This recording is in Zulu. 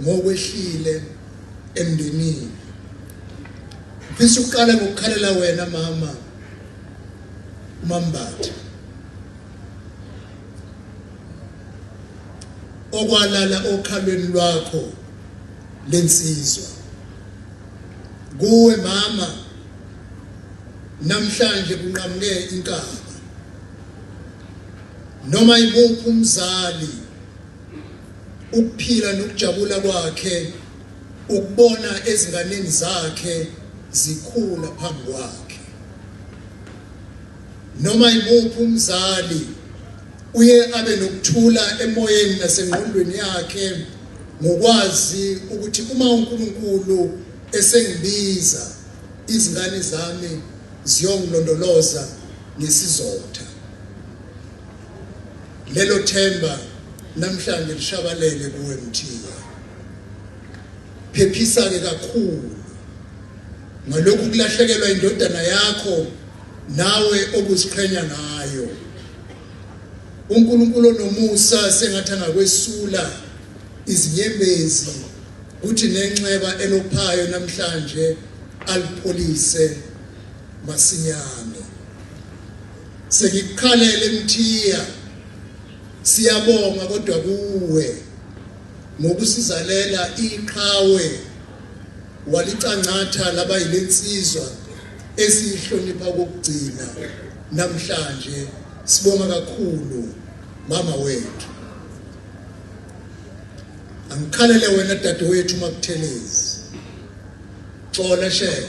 ngokwehlile emndenini ngifisa ukuqala ngokukhalela wena mama umambatha okwalala okhalweni lwakho lensizwa kuwe mama namhlanje kunqamuke inkaba noma imuphi umzali ukuphila nokujabula kwakhe ukubona ezinganeni zakhe zikhula phambi kwakhe noma imuphi umzali uye abe nokuthula emoyeni nasengqondweni yakhe ngokwazi ukuthi uma uNkulunkulu esengibiza izingane zami ziyongilondoloza ngesizotha Lelo themba namhlanje lishabalele kuwe Mthiya. Phephisa ke kakhulu ngalokhu kulahlekelwa indodana yakho nawe obuziqhenya ngayo. uNkulunkulu onomusa sengathi angakwesula izinyembezi kuthi nenxeba elophayo namhlanje alipholise masinyane Sengikukhalele Mthiya. Siyabonga kodwa kuwe ngokusizalela iqhawe walicangatha laba yilensizwa esihlonipha kokugcina namhlanje sibonga kakhulu mama wethu angikhalele wena dadewethu makuthelezi xola shele